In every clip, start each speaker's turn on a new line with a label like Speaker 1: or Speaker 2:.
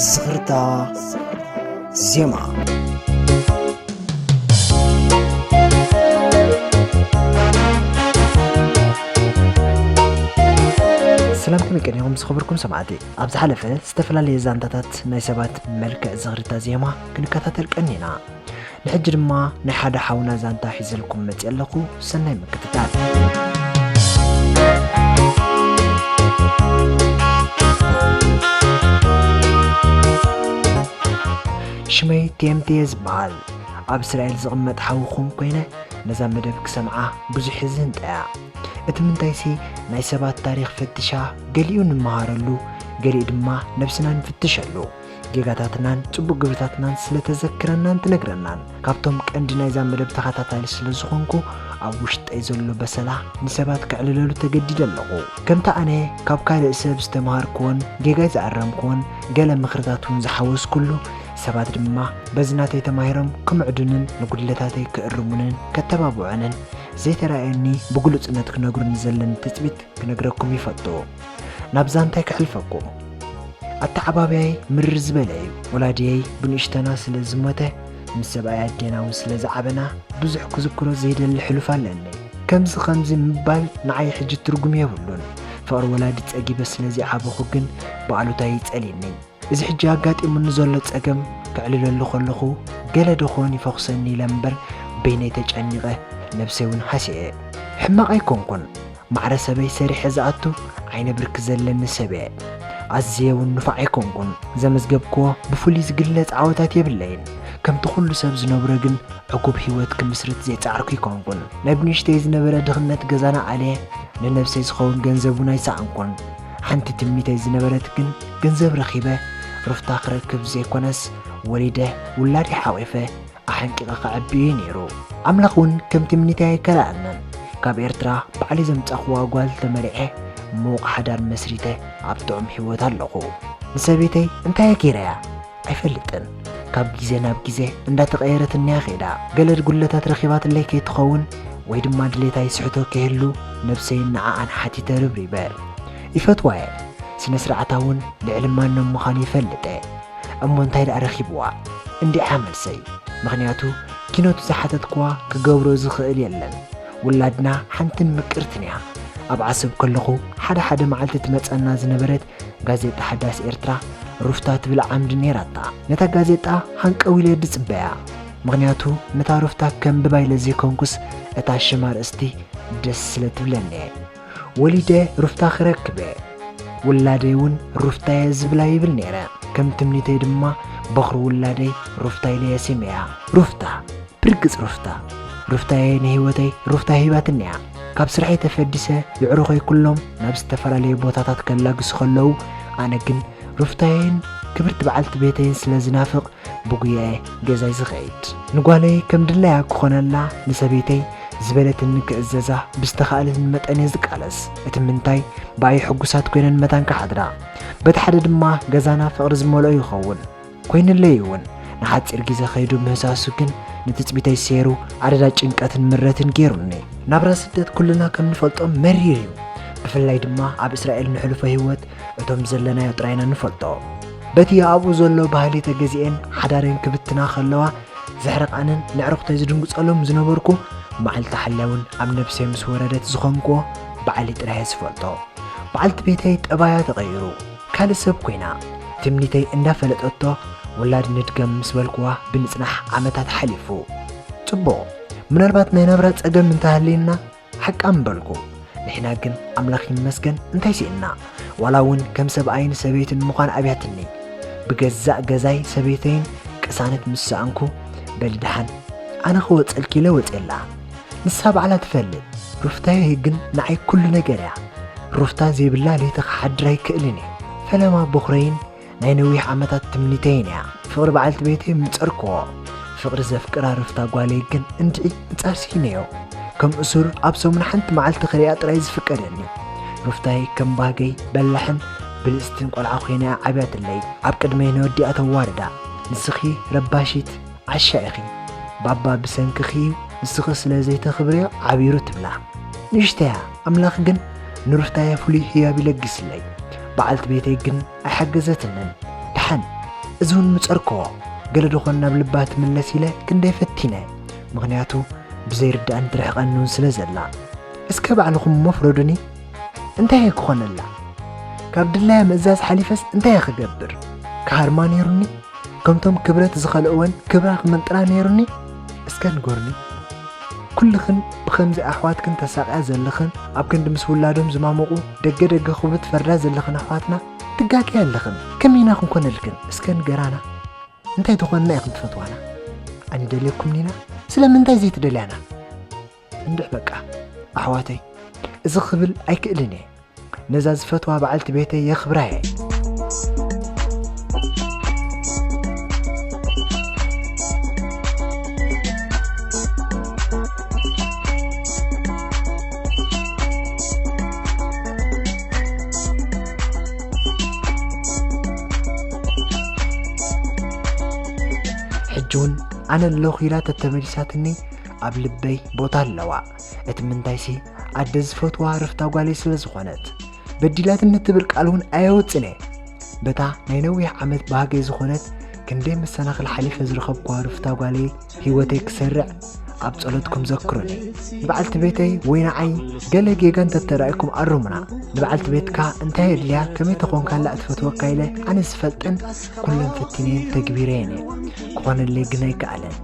Speaker 1: ዝኽርታ ዜማ። ሰላም ከመይ ቀኒኹም ዝኸበርኩም ሰማዕቲ ኣብ ዝሓለፈ ዝተፈላለየ ዛንታታት ናይ ሰባት መልክዕ ዝኽርታ ዜማ ክንከታተል ቀኒና ንሕጂ ድማ ናይ ሓደ ሓውና ዛንታ ሒዘልኩም መፅእ ኣለኹ ሰናይ ምክትታል ሽመይ ቴምቴ ዝበሃል ኣብ እስራኤል ዝቕመጥ ሓውኹም ኮይነ ነዛ መደብ ክሰምዓ ብዙሕ ዝንጠያ እቲ ምንታይሲ ናይ ሰባት ታሪክ ፈትሻ ገሊኡ ንመሃረሉ ገሊኡ ድማ ነብስና ንፍትሸሉ ጌጋታትናን ጽቡቕ ግብርታትናን ስለ ተዘክረናን ትነግረናን ካብቶም ቀንዲ ናይዛ መደብ ተኸታታሊ ስለ ዝኾንኩ ኣብ ውሽጠይ ዘሎ በሰላ ንሰባት ከዕልለሉ ተገዲደ ኣለኹ። ከምቲ ኣነ ካብ ካልእ ሰብ ዝተምሃርኩዎን ጌጋይ ዝኣረምኩዎን ገለ ምኽርታት እውን ዝሓወስኩሉ፣ ሰባት ድማ በዚ ናተይ ተማሂሮም ክምዕዱንን ንጉድለታተይ ክእርሙንን ከተባብዑንን፣ ዘይተራእየኒ ብግሉጽነት ክነግሩኒ ዘለኒ ትጽቢት ክነግረኩም ይፈቱ ናብ ዛንታይ ክሕልፈኩም ኣተዓባብያይ ምርር ዝበለ እዩ ወላድየይ ብንእሽተና ስለ ዝሞተ ምስ ሰብኣይ ኣዴና እውን ስለ ዝዓበና ብዙሕ ክዝክሮ ዘይደሊ ሕሉፍ ኣለኒ ከምዚ ከምዚ ምባል ንዓይ ሕጂ ትርጉም የብሉን ፍቕሪ ወላዲ ጸጊበ ስለ ዘይዓበኹ ግን ብኣሉታ ይጸልየኒ እዚ ሕጂ ኣጋጢሙኒ ዘሎ ጸገም ከዕልለሉ ከለኹ ገለ ደኾን ይፈኹሰኒ ኢለ እምበር በይነይ ተጨኒቐ ነብሰይ ውን ሃሲዐ። ሕማቕ ኣይኮንኩን ማዕረ ሰበይ ሰሪሐ ዝኣቱ ዓይነ ብርኪ ዘለኒ ሰብ'የ። ኣዝየ ውን ንፉዕ ኣይኮንኩን። ዘመዝገብክዎ ብፍሉይ ዝግለጽ ዓወታት የብለይን። ከምቲ ኩሉ ሰብ ዝነብሮ ግን ዕጉብ ሂወት ክምስርት ዘይጸዓርኩ ኣይኮንኩን። ናይ ብንእሽተይ ዝነበረ ድኽነት ገዛና ኣልየ፣ ንነብሰይ ዝኸውን ገንዘብ ውን ኣይሰኣንኩን። ሓንቲ ትምኒተይ ዝነበረት ግን ገንዘብ ረኺበ ሩፍታ ክረክብ ዘይኮነስ ወሊደ ውላደይ ሓቚፈ ኣሐንቂቐ ከዕቢ እዩ ነይሩ። ኣምላኽ እውን ከም ትምኒተይ ኣይከልኣናን። ካብ ኤርትራ ባዕለይ ዘምጻኹዋ ጓል ተመርዔ ምዉቕ ሓዳር መስሪተ ኣብ ጥዑም ህይወት ኣለኹ። ንሰበይተይ እንታየ ገይረያ? ኣይፈልጥን ካብ ግዜ ናብ ግዜ እንዳተቐየረት እንያ ኼዳ ገለ ጉድለታት ረኺባትለይ ከይትኸውን ወይ ድማ ድሌታ ይስሕቶ ከይህሉ ነብሰይን ንዓኣን ሓቲተ ርብሪበ ይፈትዋ እየ ስነ ስርዓታ እውን ልዕሊ ማንም ምዃኑ ይፈልጥ እየ እሞ እንታይ ደኣ ረኺብዋ እንዲዓ መልሰይ ምኽንያቱ ኪኖቱ ዝሓተትክዋ ክገብሮ ዝኽእል የለን ውላድና ሓንትን ምቅርትን እያ ኣብ ዓሰብ ከለኹ ሓደ ሓደ መዓልቲ ትመጸና ዝነበረት ጋዜጣ ሓዳስ ኤርትራ ሩፍታ ትብል ዓምዲ ነይራታ። ነታ ጋዜጣ ሃንቀው ኢለ ድጽበያ፣ ምኽንያቱ ነታ ሩፍታ ከንብባ ኢለ ዘይኮንኩስ እታ ሽም ኣርእስቲ ደስ ስለ ትብለኒ። ወሊደ ሩፍታ ክረክበ ውላደይ እውን ሩፍታየ ዝብላ ይብል ነይረ። ከም ትምኒተይ ድማ በኹሪ ውላደይ ሩፍታ ኢለየ ሲመያ። ሩፍታ፣ ብርግጽ ሩፍታ! ሩፍታየ ንህይወተይ ሩፍታ ሂባትኒ እያ። ካብ ስርሐይ ተፈዲሰ የዕሩኸይ ኩሎም ናብ ዝተፈላለየ ቦታታት ከላግሱ ከለዉ ኣነ ግን ሩፍታየይን ክብርቲ በዓልቲ ቤተይን ስለ ዝናፍቕ ብጉያየ ገዛይ ዝኸይድ ንጓለይ ከም ድላያ ክኾነላ ንሰበይተይ ዝበለትኒ ክእዘዛ ብዝተኻእለኒ መጠን እየ ዝቃለስ እቲ ምንታይ ብኣይ ሕጉሳት ኮይነን መታን ክሓድራ በቲ ሓደ ድማ ገዛና ፍቕሪ ዝመልኦ ይኸውን ኮይንለይ እውን ንሓፂር ግዜ ከይዱ ምህሳሱ ግን ንትፅቢተይ ሰይሩ ኣደዳ ጭንቀትን ምረትን ገይሩኒ። ናብራ ስደት ኩልና ከም ንፈልጦ መሪር እዩ። ብፍላይ ድማ ኣብ እስራኤል ንሕልፎ ህይወት እቶም ዘለናዮ ጥራይና ንፈልጦ። በቲ ኣብኡ ዘሎ ባህሊ ተገዚኤን ሓዳረን ክብትና ከለዋ ዘሕርቃንን ነዕርኩተይ ዝድንግፀሎም ዝነበርኩ መዓልቲ ሓላይ እውን ኣብ ነብሰይ ምስ ወረደት ዝኾንክዎ ባዕለይ ጥራይ እየ ዝፈልጦ። በዓልቲ ቤተይ ጠባያ ተቐይሩ። ካልእ ሰብ ኮይና ትምኒተይ እንዳፈለጠቶ ውላድ ንድገም ምስ በልኩዋ ብንጽናሕ ዓመታት ሓሊፉ። ጽቡቕ ምናልባት ናይ ናብራ ጸገም እንተሃልዩና ሓቃ ምበልኩ። ንሕና ግን ኣምላኽ ይመስገን እንታይ ሲእንና ዋላ እውን ከም ሰብኣይን ሰበይትን ምዃን ኣብያትኒ። ብገዛእ ገዛይ ሰበይተይን ቅሳነት ምስ ሰኣንኩ በሊ ደሓን ኣነ ክወጸልኪ ኢለ ወጼላ። ንሳ ባዕላ ትፈልጥ ሩፍታየ ግን ንዓይ ኩሉ ነገር እያ ሩፍታ ዘይብላ ለይቲ ክሓድር ኣይክእልን እየ ፈለማ ቦኽረይን ናይ ነዊሕ ዓመታት ትምኒተይን እያ ፍቕሪ በዓልቲ ቤተይ ምንጸርክዎ ፍቕሪ ዘፍቅራ ሩፍታ ጓለይ ግን እንድዒ ንጻር ስኢነዮ ከም እሱር ኣብ ሰሙን ሓንቲ መዓልቲ ክሪኣ ጥራይ ዝፍቀደኒ ሩፍታይ ከም ባህገይ በላሕን ብልጽትን ቆልዓ ኮይና እያ ዓብያትለይ ኣብ ቅድመይ ነወዲኣ ተዋርዳ ንስኺ ረባሺት ዓሻ ኢኺ ባባ ብሰንክኺ እዩ ንስኺ ስለ ዘይተኽብርዮ ዓቢሩ ትብላ ንእሽተያ ኣምላኽ ግን ንሩፍታየ ፍሉይ ሕያብ ይለግስለይ በዓልቲ ቤተይ ግን ኣይሓገዘትንን ደሓን እዚ እውን ምጸርክዎ ገለ ደኾን ናብ ልባ ትምለስ ኢለ ክንደይ ፈቲነ ምኽንያቱ ብዘይርዳእን ትርሕቐኒ እውን ስለ ዘላ እስከ ባዕልኹም እሞ ፍረዱኒ እንታይ እየ ክኾነላ ካብ ድላያ ምእዛዝ ሓሊፈስ እንታይ እየ ክገብር ክሃርማ ነይሩኒ ከምቶም ክብረት ዝኸልእወን ክብራ ክምንጥላ ነይሩኒ እስከ ንጎርኒ ኩልኽን ብኸምዚ ኣሕዋትክን ተሳቕያ ዘለኽን ኣብ ክንዲ ምስ ውላዶም ዝማመቑ ደገ ደገ ክብሉ ትፈርዳ ዘለኽን ኣሕዋትና ትጋገያ ኣለኽን ከመይ ኢና ክንኮነልክን እስከ ንገራና እንታይ ተኾንና ኢኽን ትፈትዋና ኣንደልየኩምኒና ስለምንታይ ዘይትደልያና እንድሕ በቃ ኣሕዋተይ እዚ ክብል ኣይክእልን እየ ነዛ ዝፈትዋ በዓልቲ ቤተይ የኽብራ እየ ሕጂ እውን ኣነ ኣለኹ ኢላ ተተመሊሳትኒ ኣብ ልበይ ቦታ ኣለዋ እቲ ምንታይሲ ኣደ ዝፈትዋ ረፍታ ጓለይ ስለ ዝኾነት በዲላትኒ ትብል ቃል እውን ኣየውፅን እየ በታ ናይ ነዊሕ ዓመት ባህገይ ዝኾነት ክንደይ መሰናኽል ሓሊፈ ዝረኸብኳ ርፍታ ጓለይ ህይወተይ ክሰርዕ ኣብ ጸሎትኩም ዘክሩኒ ንበዓልቲ ቤተይ ወይ ንዓይ ገለ ጌጋ እንተተራእኩም ኣርሙና ንበዓልቲ ቤትካ እንታይ የድልያ ከመይ ተኾንካላ እትፈትወካ ኢለ ኣነ ዝፈልጠን ኩለን ፈቲነን ተግቢረየን እየ ክኾነለይ ግን ኣይከኣለን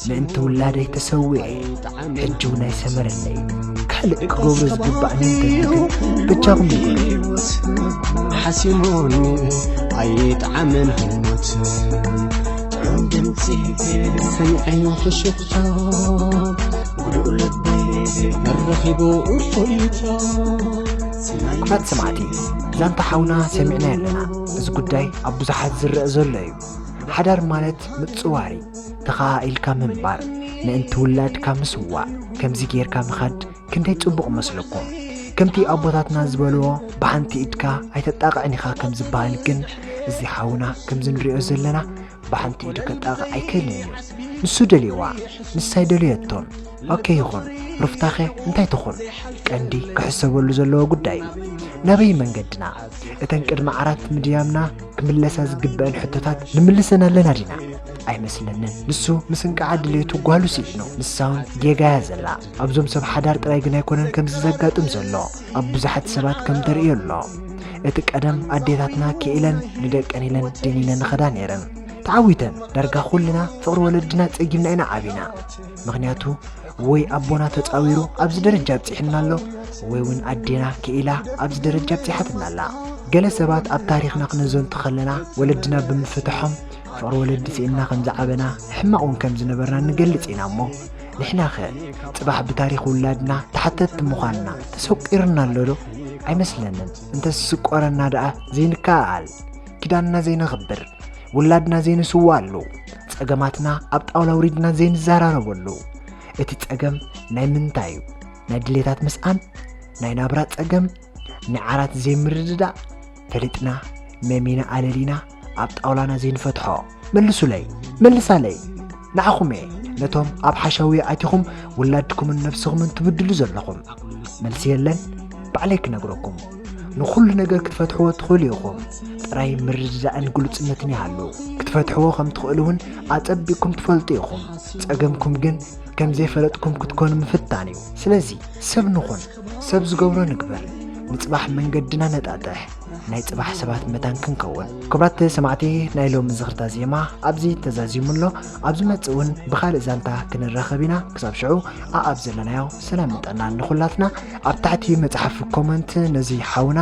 Speaker 1: ምእንቲ ውላደይ ተሰዊዐ ሕጂ ውን ኣይሰመረለይ ካልእ ክገብሮ ዝግባእኒ እንተዝግን በጃኹም ንገሩኒ
Speaker 2: ሓሲሙኒ ኣይጥዓምን ህሞት ጥዑም ድምፂ ሰሚዐዮ ፍሽኽታ ጉዱእ ልበይ ኣረኺቡ እፎይታ
Speaker 1: ክቡራት ሰማዕቲ ዛንታ ሓውና ሰሚዕናዮ ኣለና እዚ ጉዳይ ኣብ ብዙሓት ዝረአ ዘሎ እዩ ሓዳር ማለት ምፅዋር እዩ ተኸኣኢልካ ምንባር ምእንቲ ውላድካ ምስዋእ ከምዚ ጌርካ ምኻድ ክንደይ ጽቡቕ መስለኩም ከምቲ ኣቦታትና ዝበልዎ ብሓንቲ ኢድካ ኣይተጣቕዕን ኢኻ ከም ዝበሃል ግን እዚ ሓውና ከምዚ ንሪኦ ዘለና ብሓንቲ ኢዱ ከጣቕዕ ኣይክእልን እዩ ንሱ ደልዋ ንሳይ ደልየቶም ኦኬ ይኹን ሩፍታኸ እንታይ ትኹን ቀንዲ ክሕሰበሉ ዘለዎ ጉዳይ እዩ ናበይ መንገድና እተን ቅድሚ ዓራት ምድያምና ክምለሳ ዝግበአን ሕቶታት ንምልሰን ኣለና ዲና ኣይመስለንን ንሱ ምስ እንቃዓ ድሌቱ ጓሉ ስኢኑ ንሳውን ጌጋ እያ ዘላ ኣብዞም ሰብ ሓዳር ጥራይ ግን ኣይኮነን ከምዚ ዘጋጥም ዘሎ ኣብ ብዙሓት ሰባት ከም ተርእዮ ኣሎ እቲ ቀደም ኣዴታትና ክኢለን ንደቀን ኢለን ድኒነን ኸዳ ነይረን ተዓዊተን ዳርጋ ኩልና ፍቕሪ ወለድና ጸጊምና ኢና ዓቢና ምክንያቱ ወይ ኣቦና ተፃዊሩ ኣብዚ ደረጃ ኣብፂሕና ኣሎ ወይ እውን ኣዴና ክኢላ ኣብዚ ደረጃ ኣብፂሓትና ኣላ ገለ ሰባት ኣብ ታሪክና ክነዘንቱ ከለና ወለድና ብምፍትሖም ፍቅሪ ወለዲ ስኢንና ከም ዝዓበና ሕማቅ እውን ከም ዝነበርና ንገልፅ ኢና እሞ ንሕና ኸ ፅባሕ ብታሪክ ውላድና ተሓተትቲ ምዃንና ተሰቂርና ኣሎ ዶ ኣይመስለንን እንተስስቆረና ደኣ ዘይንከኣል ኪዳንና ዘይነኽብር ውላድና ዘይንስዋኣሉ ጸገማትና ኣብ ጣውላ ውሪድና ዘይንዘራረበሉ እቲ ጸገም ናይ ምንታይ እዩ ናይ ድሌታት ምስኣን ናይ ናብራ ጸገም ናይ ዓራት ዘይምርድዳእ ፈሊጥና መሚና ኣለሊና ኣብ ጣውላና ዘይንፈትሖ መልሱለይ መልሳለይ ንዓኹም እየ ነቶም ኣብ ሓሸውየ ኣቲኹም ውላድኩምን ነፍስኹምን ትብድሉ ዘለኹም መልሲ የለን ባዕለይ ክነግረኩም ንኹሉ ነገር ክትፈትሕዎ ትኽእሉ ኢኹም ጥራይ ምርድዳእን ግሉፅነትን ይሃሉ ክትፈትሕዎ ከም ትኽእሉ እውን ኣፀቢቕኩም ትፈልጡ ኢኹም ፀገምኩም ግን ከም ዘይፈለጥኩም ክትኮኑ ምፍታን እዩ ስለዚ ሰብ ንኹን ሰብ ዝገብሮ ንግበር ንፅባሕ መንገድና ነጣጥሕ ናይ ፅባሕ ሰባት መታን ክንከውን ክብራት ሰማዕቲ ናይ ሎሚ ዝኽርታ ዜማ ኣብዚ ተዛዚሙ ኣሎ ኣብ ዝመፅእ እውን ብካልእ ዛንታ ክንራኸብ ኢና ክሳብ ሽዑ ኣኣብ ዘለናዮ ሰላምን ጥዕናን ንኹላትና ኣብ ታሕቲ መፅሓፍ ኮመንት ነዚ ሓውና